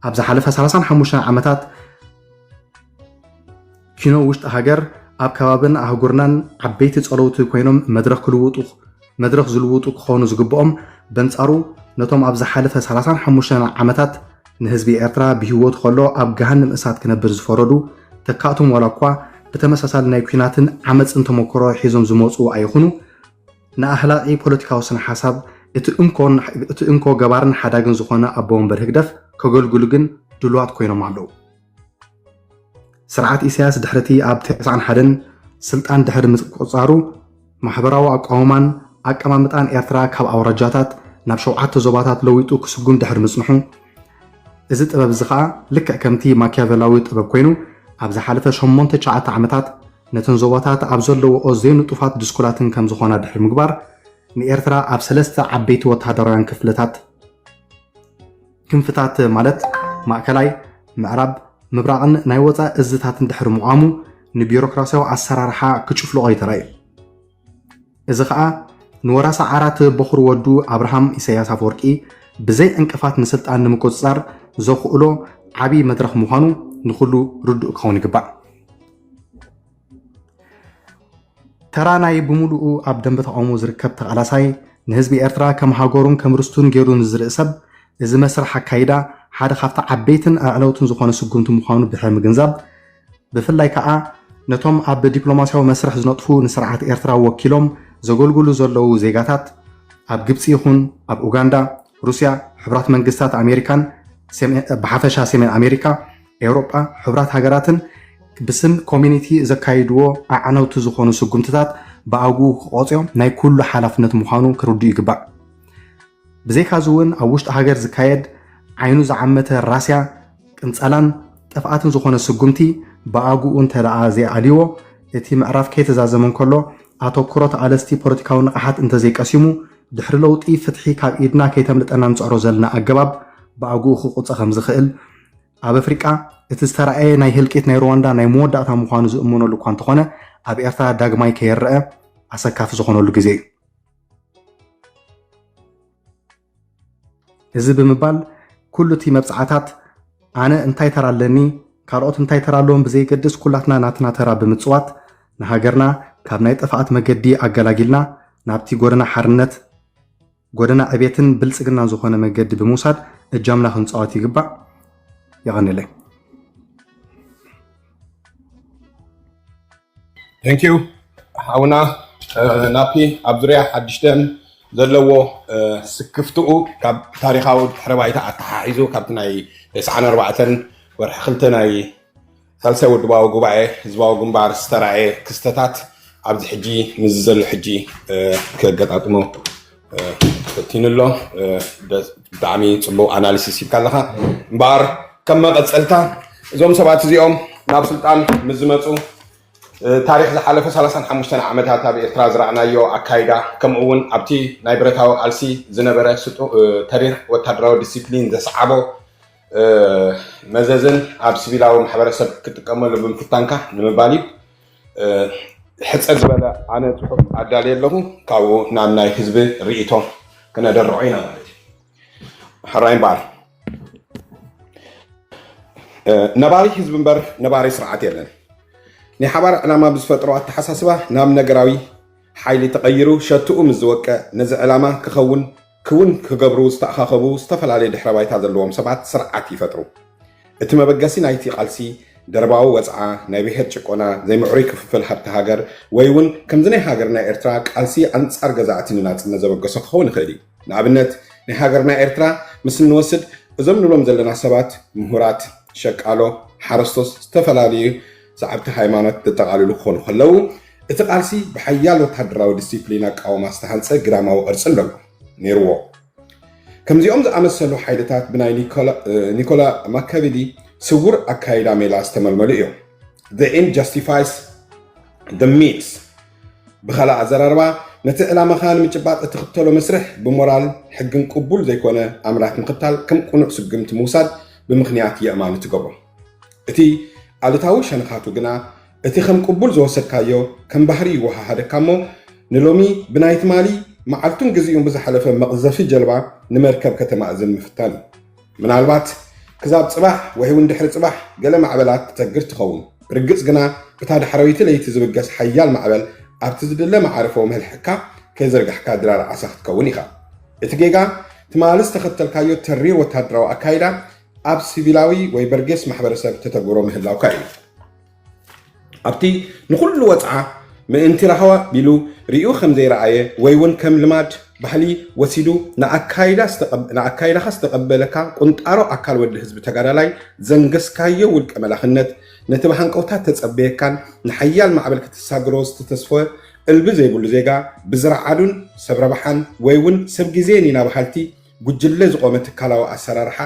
S5: ኣብ ዝሓለፈ 35 ዓመታት ኪኖ ውሽጢ ሃገር ኣብ ከባብን ኣህጉርናን ዓበይቲ ፀለውቲ ኮይኖም መድረኽ ክልውጡ መድረኽ ዝልውጡ ክኾኑ ዝግብኦም በንፃሩ ነቶም ኣብ ዝሓለፈ 35 ዓመታት ንህዝቢ ኤርትራ ብህይወቱ ከሎ ኣብ ገሃንም እሳት ክነብር ዝፈረዱ ተካእቶም ዋላ እኳ ብተመሳሳሊ ናይ ኩናትን ዓመፅን ተመክሮ ሒዞም ዝመፁ ኣይኹኑ ንኣህላቂ ፖለቲካዊ ስነ-ሓሳብ እቲ እንኮን እቲ እንኮ ገባርን ሓዳግን ዝኾነ ኣቦ ወንበር ህግደፍ ከገልግሉ ግን ድሉዋት ኮይኖም ኣለዉ። ስርዓት ኢሳያስ ድሕሪቲ ኣብ ተስዓን ሓደን ስልጣን ድሕሪ ምቁጽጻሩ ማሕበራዊ ኣቋውማን ኣቀማምጣን ኤርትራ ካብ ኣውራጃታት ናብ ሸውዓተ ዞባታት ለዊጡ ክስጉም ድሕሪ ምጽንሑ እዚ ጥበብ እዚ ከኣ ልክዕ ከምቲ ማኪያቨላዊ ጥበብ ኮይኑ ኣብ ዝሓለፈ ሸሞንተ ትሽዓተ ዓመታት ነተን ዞባታት ኣብ ዘለውኦ ዘይንጡፋት ድስኩላትን ከም ዝኾና ድሕሪ ምግባር፣ ንኤርትራ ኣብ ሰለስተ ዓበይቲ ወተሃደራውያን ክፍልታት፣ ክንፍታት፣ ማለት ማእከላይ፣ ምዕራብ፣ ምብራቕን ናይ ወጻኢ እዝታትን ድሕሪ ምቛሙ፣ ንቢሮክራስያዊ ኣሰራርሓ ክጭፍልቖ'ዩ ተራእዩ። እዚ ኸኣ ንወራሲ ዓራት ቦኹሪ ወዱ ኣብርሃም ኢሰያስ ኣፈወርቂ ብዘይ ዕንቅፋት ንስልጣን ንምቁጽጻር ዘኹእሎ ዓቢ መድረኽ ምዃኑ ንኹሉ ርዱእ ክኸውን ይግባእ። ተራ ናይ ብምሉኡ ኣብ ደንበ ተቓውሞ ዝርከብ ተቓላሳይ ንህዝቢ ኤርትራ ከም ሃገሩን ከም ርስቱን ገይሩ ንዝርኢ ሰብ እዚ መስርሕ ኣካይዳ ሓደ ካብቲ ዓበይትን ኣዕለውትን ዝኾነ ስጉምቲ ምዃኑ ድሕሪ ምግንዛብ ብፍላይ ከኣ ነቶም ኣብ ዲፕሎማስያዊ መስርሕ ዝነጥፉ ንስርዓት ኤርትራ ወኪሎም ዘገልግሉ ዘለዉ ዜጋታት ኣብ ግብጺ ይኹን ኣብ ኡጋንዳ፣ ሩስያ፣ ሕቡራት መንግስታት ኣሜሪካን ብሓፈሻ ሰሜን ኣሜሪካ፣ ኤውሮጳ፣ ሕቡራት ሃገራትን ብስም ኮሚኒቲ ዘካይድዎ ኣዕነውቲ ዝኾኑ ስጉምትታት ብኣግኡ ክቖጽዮ ናይ ኩሉ ሓላፍነት ምዃኑ ክርድኡ ይግባእ። ብዘይካዚ እውን ኣብ ውሽጢ ሃገር ዝካየድ ዓይኑ ዝዓመተ ራስያ፣ ቅንጸላን ጥፍኣትን ዝኾነ ስጉምቲ ብኣግኡ እንተደኣ ዘይኣልዩዎ፣ እቲ ምዕራፍ ከይተዛዘመ እንከሎ፣ ኣተኩሮ ተቓለስቲ ፖለቲካዊ ንቕሓት እንተዘይቀሲሙ፣ ድሕሪ ለውጢ ፍትሒ ካብ ኢድና ከይተምልጠና እንጽዕሮ ዘለና ኣገባብ ብኣግኡ ክቁጸ ከምዝኽእል ኣብ ኣፍሪቃ እቲ ዝተራእየ ናይ ህልቂት ናይ ሩዋንዳ ናይ መወዳእታ ምዃኑ ዝእመነሉ እኳ እንተኾነ ኣብ ኤርትራ ዳግማይ ከይረኣ ኣሰካፊ ዝኾነሉ ግዜ እዩ። እዚ ብምባል ኩሉ እቲ መብጽዓታት ኣነ እንታይ ተራ ኣለኒ ካልኦት እንታይ ተራ ኣለዎም ብዘይገድስ ኩላትና ናትና ተራ ብምጽዋት ንሃገርና ካብ ናይ ጥፍኣት መገዲ ኣገላጊልና ናብቲ ጎደና ሓርነት ጎደና ዕቤትን ብልጽግናን ዝኾነ መገዲ ብምውሳድ እጃምና ክንጻወት ይግባእ። የቐንለይ።
S1: Thank you ሓውና ናፒ ኣብ ዙርያ ሓድሽ ደም ዘለዎ ስክፍትኡ ካብ ታሪኻዊ ድሕረ ባይታ ኣተሓሒዙ ካብቲ ናይ ተስዓን ኣርባዕተን ወርሒ ክልተ ናይ ሳልሳይ ውድባዊ ጉባኤ ህዝባዊ ግንባር ዝተራእየ ክስተታት ኣብዚ ሕጂ ምስዚ ዘሎ ሕጂ ከገጣጥሞ ፈቲኑ ኣሎ ብጣዕሚ ፅቡቅ ኣናሊሲስ ሂብካ ኣለካ እምበኣር ከም መቐፀልታ እዞም ሰባት እዚኦም ናብ ስልጣን ምስ ዝመፁ ታሪክ ዝሓለፈ 35 ዓመታት ኣብ ኤርትራ ዝረኣናዮ ኣካይዳ ከምኡ እውን ኣብቲ ናይ ብረታዊ ቃልሲ ዝነበረ ተሪር ወታደራዊ ዲሲፕሊን ዘስዓቦ መዘዝን ኣብ ሲቪላዊ ማሕበረሰብ ክጥቀመሉ ብምፍታንካ ንምባል እዩ ሕጽር ዝበለ ኣነ ጽሑፍ ኣዳልየ ኣለኹ ካብኡ ናብ ናይ ህዝቢ ርእቶ ክነደርዖ ኢና ማለት እዩ ሕራይ እምበኣር ነባሪ ህዝቢ እምበር ነባሪ ስርዓት የለን ናይ ሓባር ዕላማ ብዝፈጥሮ ኣተሓሳስባ ናብ ነገራዊ ሓይሊ ተቐይሩ ሸትኡ ምስ ዝወቀ ነዚ ዕላማ ክኸውን ክውን ክገብሩ ዝተኣኻኸቡ ዝተፈላለየ ድሕረ ባይታ ዘለዎም ሰባት ስርዓት ይፈጥሩ። እቲ መበገሲ ናይቲ ቃልሲ ደርባዊ ወጽዓ፣ ናይ ብሄር ጭቆና፣ ዘይምዕሩይ ክፍፍል ሃብቲ ሃገር ወይ'ውን ከምዚ ናይ ሃገርና ኤርትራ ቃልሲ ኣንጻር ገዛእቲ ንናጽነት ዘበገሶ ክኸውን ይኽእል እዩ። ንኣብነት ናይ ሃገርና ኤርትራ ምስ እንወስድ እዞም ንብሎም ዘለና ሰባት ምሁራት፣ ሸቃሎ፣ ሓረስቶት ዝተፈላለዩ ሰዓብቲ ሃይማኖት ዘጠቓልሉ ክኾኑ ከለዉ እቲ ቃልሲ ብሓያል ወተሃደራዊ ዲሲፕሊን ኣቃውማ ዝተሃንጸ ግራማዊ ቅርጺ ኣለዎ ነይርዎ። ከምዚኦም ዝኣመሰሉ ሓይልታት ብናይ ኒኮላ ማካቪሊ ስውር ኣካይዳ ሜላ ዝተመልመሉ እዮም። The End Justifies the Means ብኻልእ ኣዘራርባ ነቲ ዕላማኻ ንምጭባጥ እትኽተሎ መስርሕ ብሞራል ሕግን ቅቡል ዘይኮነ ኣምራት ምኽታል ከም ቅኑዕ ስጉምቲ ምውሳድ ብምኽንያት የእማኒ ትገብሮ። እቲ ኣሉታዊ ሸነኻቱ ግና እቲ ከም ቅቡል ዝወሰድካዮ ከም ባህሪ ይወሃሃደካ እሞ ንሎሚ ብናይ ትማሊ መዓልቱን ግዚኡን ብዝሓለፈ መቕዘፊ ጀልባ ንመርከብ ከተማእዝን ምፍታን እዩ። ምናልባት ክሳብ ጽባሕ ወይ'ውን ድሕሪ ጽባሕ ገለ ማዕበላት ትሰግር ትኸውን። ብርግጽ ግና እታ ዳሕረወይቲ ለይቲ ዝብገስ ሓያል ማዕበል ኣብቲ ዝድለ መዓርፎ መልሕቕካ ከይዘርጋሕካ ድራር ዓሳ ክትከውን ኢኻ። እቲ ጌጋ ትማሊ ዝተኸተልካዮ ተሪር ወተሃደራዊ ኣካይዳ ኣብ ሲቪላዊ ወይ በርጌስ ማሕበረሰብ ተተግብሮ ምህላውካ እዩ። ኣብቲ ንኹሉ ወጽዓ ምእንቲ ራህዋ ቢሉ ርእዩ ከም ዘይረኣየ ወይ እውን ከም ልማድ፣ ባህሊ፣ ወሲዱ ንኣካይዳኻ ዝተቐበለካ ቁንጣሮ ኣካል ወዲ ህዝቢ ተጋዳላይ ዘንገስካዮ ውልቀ መላኽነት ነቲ ብሃንቀውታ እተጸበየካን ንሓያል ማዕበል ክትሳግሮ ዝተተስፈ እልቢ ዘይብሉ ዜጋ ብዝረዓዱን ሰብ ረብሓን ወይ እውን ሰብ ግዜን ኢና በሃልቲ ጉጅለ ዝቆመ ትካላዊ ኣሰራርሓ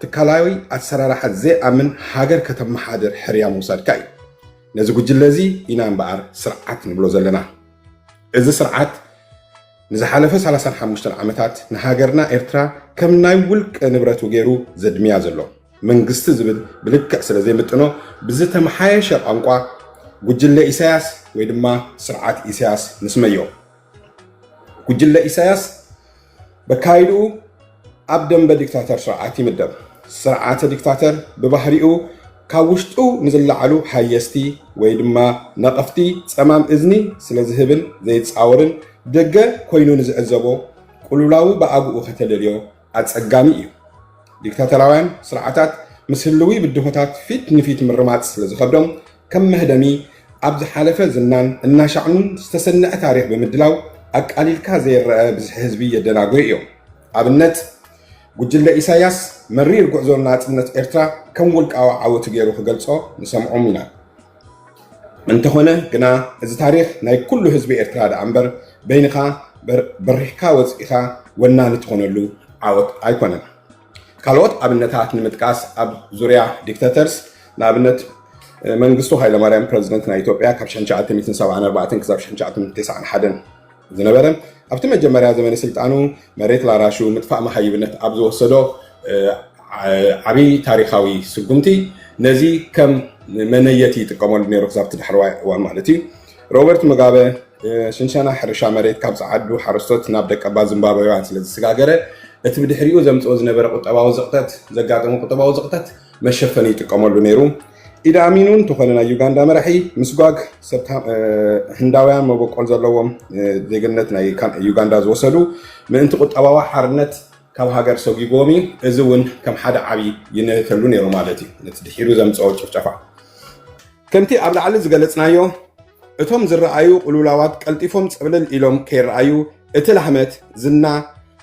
S1: ትካላዊ ኣሰራርሓ ዘይኣምን ሃገር ከተመሓድር ሕርያ ምውሳድካ እዩ። ነዚ ጉጅለ እዚ ኢና እምበኣር ስርዓት ንብሎ ዘለና። እዚ ስርዓት ንዝሓለፈ ሰላሳን ሓሙሽተን ዓመታት ንሃገርና ኤርትራ ከም ናይ ውልቀ ንብረቱ ገይሩ ዘድምያ ዘሎ መንግስቲ ዝብል ብልክዕ ስለ ዘይምጥኖ ብዝተመሓየሸ ቋንቋ ጉጅለ ኢሳያስ ወይ ድማ ስርዓት ኢሳያስ ንስመዮ። ጉጅለ ኢሳያስ በካይድኡ ኣብ ደምበ ዲክታተር ስርዓት ይምደብ። ስርዓተ ዲክታተር ብባህሪኡ ካብ ውሽጡ ንዝለዓሉ ሃየስቲ ወይ ድማ ነቐፍቲ ጸማም እዝኒ ስለ ዝህብን ዘይጻወርን ደገ ኮይኑ ንዝዕዘቦ ቁልውላዉ ብኣግኡ ከተለልዮ ኣጸጋሚ እዩ። ዲክታተራውያን ስርዓታት ምስ ህልዊ ብድሆታት ፊት ንፊት ምርማጽ ስለ ዝኸብዶም ከም መህደሚ ኣብ ዝሓለፈ ዝናን እናሻዕኑን ዝተሰነዐ ታሪኽ ብምድላው ኣቃሊልካ ዘይረኣ ብዝሒ ህዝቢ የደናጉዩ እዮም። ኣብነት ጉጅለ ኢሳያስ መሪር ጉዕዞ ንናጽነት ኤርትራ ከም ውልቃዊ ዓወቱ ገይሩ ክገልጾ ንሰምዖም ኢና። እንተኾነ ግና እዚ ታሪኽ ናይ ኩሉ ህዝቢ ኤርትራ ደኣ እምበር በይንኻ በሪሕካ ወጺእኻ ወናኒ ትኾነሉ ዓወት ኣይኮነን። ካልኦት ኣብነታት ንምጥቃስ ኣብ ዙርያ ዲክተተርስ ንኣብነት መንግስቱ ሃይለማርያም ፕረዚደንት ናይ ኢትዮጵያ ካብ 1974 ክሳብ 1991 ዝነበረ ኣብቲ መጀመርያ ዘመነ ስልጣኑ መሬት ላራሹ ምጥፋእ መሃይብነት ኣብ ዝወሰዶ ዓብይ ታሪካዊ ስጉምቲ ነዚ ከም መነየቲ ይጥቀመሉ ነይሩ ክሳብቲ ዳሕረዋይ እዋን ማለት እዩ ሮበርት ሙጋበ ሽንሸና ሕርሻ መሬት ካብ ጸዓዱ ሓረስቶት ናብ ደቀባት ዚምባብዌውያን ስለ ዝሰጋገረ፣ እቲ ብድሕሪኡ ዘምጽኦ ዝነበረ ቁጠባዊ ዝቕጠት ዘጋጠሞ ቁጠባዊ ዝቕጠት መሸፈኒ ይጥቀመሉ ነይሩ። ኢዲ ኣሚን እውን እንተኾነ ናይ ዩጋንዳ መራሒ ምስጓግ ሰብ ህንዳውያን መበቆል ዘለዎም ዜግነት ናይ ዩጋንዳ ዝወሰዱ ምእንቲ ቁጠባዊ ሓርነት ካብ ሃገር ሰጒጎም እዩ እዚ እውን ከም ሓደ ዓብዪ ይነተሉ ነይሩ ማለት እዩ ነቲ ድሒሩ ዘምፀኦ ጭፍጨፋ ከምቲ ኣብ ላዕሊ ዝገለጽናዮ፣ እቶም ዝረኣዩ ቅልውላዋት ቀልጢፎም ጽቕልል ኢሎም ከይረኣዩ፣ እቲ ላህመት፣ ዝና፣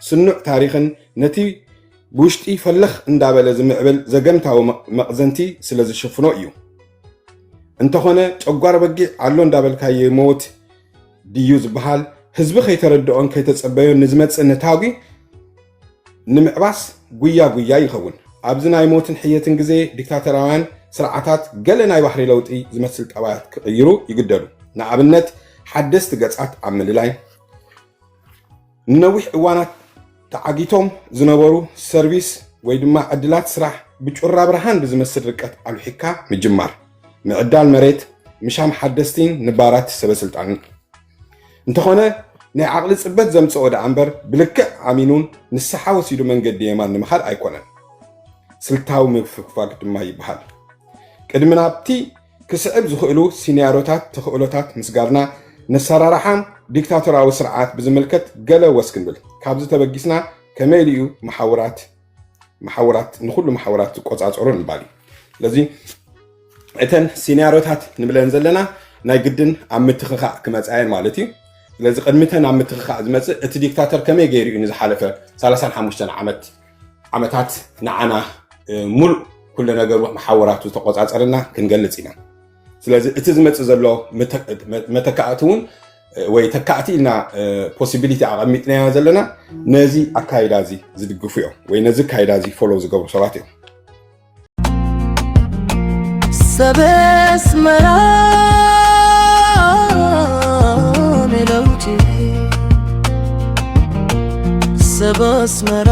S1: ስኑዕ ታሪኽን ነቲ ብውሽጢ ፈልኽ እንዳበለ ዝምዕብል ዘገምታዊ መቕዘንቲ ስለ ዝሽፍኖ እዩ። እንተኾነ ጨጓር በጊዕ ኣሎ እንዳበልካ ይመውት ድዩ ዝበሃል፣ ህዝቢ ከይተረድኦን ከይተጸበዮን ንዝመጽእ ነታጒ፣ ንምዕባስ ጉያ ጉያ ይኸውን። ኣብዚ ናይ ሞትን ሕየትን ግዜ ዲክታተራውያን ስርዓታት ገለ ናይ ባህሪ ለውጢ ዝመስል ጠባያት ክቕይሩ ይግደዱ። ንኣብነት ሓደስቲ ገጻት ኣብ ምልላይ፣ ንነዊሕ እዋናት ተዓጊቶም ዝነበሩ ሰርቪስ ወይ ድማ ዕድላት ስራሕ ብጩራ ብርሃን ብዝመስል ርቀት ኣሉሒካ ምጅማር፣ ምዕዳል መሬት፣ ምሻም ሓደስቲን ንባራት ሰበስልጣንን። እንተኾነ ናይ ዓቕሊ ፅበት ዘምፀኦ ደኣ እምበር ብልክዕ ኣሚኑን ንስሓ ወሲዱ መንገዲ የማን ንምኻድ ኣይኮነን። ስልታዊ ምፍግፋግ ድማ ይበሃል። ቅድሚ ናብቲ ክስዕብ ዝኽእሉ ሲንያሮታት ተኽእሎታት ምስጋርና ነሰራርሓ ዲክታቶራዊ ስርዓት ብዝምልከት ገለ ወስ ክንብል ካብዚ ተበጊስና ከመይ ኢሉ እዩ መሓውራት መሓውራት ንኩሉ መሓውራት ዝቆፃፀሩ ምባል እዩ ስለዚ እተን ሲናሪዮታት ንብለን ዘለና ናይ ግድን ኣብ ምትኽኻእ ክመፃየን ማለት እዩ ስለዚ ቅድሚተን ኣብ ምትኽኻእ ዝመፅእ እቲ ዲክታተር ከመይ ገይሩ እዩ ንዝሓለፈ 35 ዓመት ዓመታት ንዓና ሙሉእ ኩሉ ነገሩ መሓወራቱ ዝተቆፃፀርና ክንገልፅ ኢና ስለዚ እቲ ዝመፅእ ዘሎ መተካእቲ እውን ወይ ተካእቲ ኢልና ፖሲቢሊቲ ኣቐሚጥናዮ ዘለና ነዚ ኣካይዳ እዚ ዝድግፉ እዮም ወይ ነዚ ኣካይዳ እዚ ፎሎ ዝገብሩ ሰባት እዮም ሰብ ኣስመራ ሜለውቲ ሰብ ኣስመራ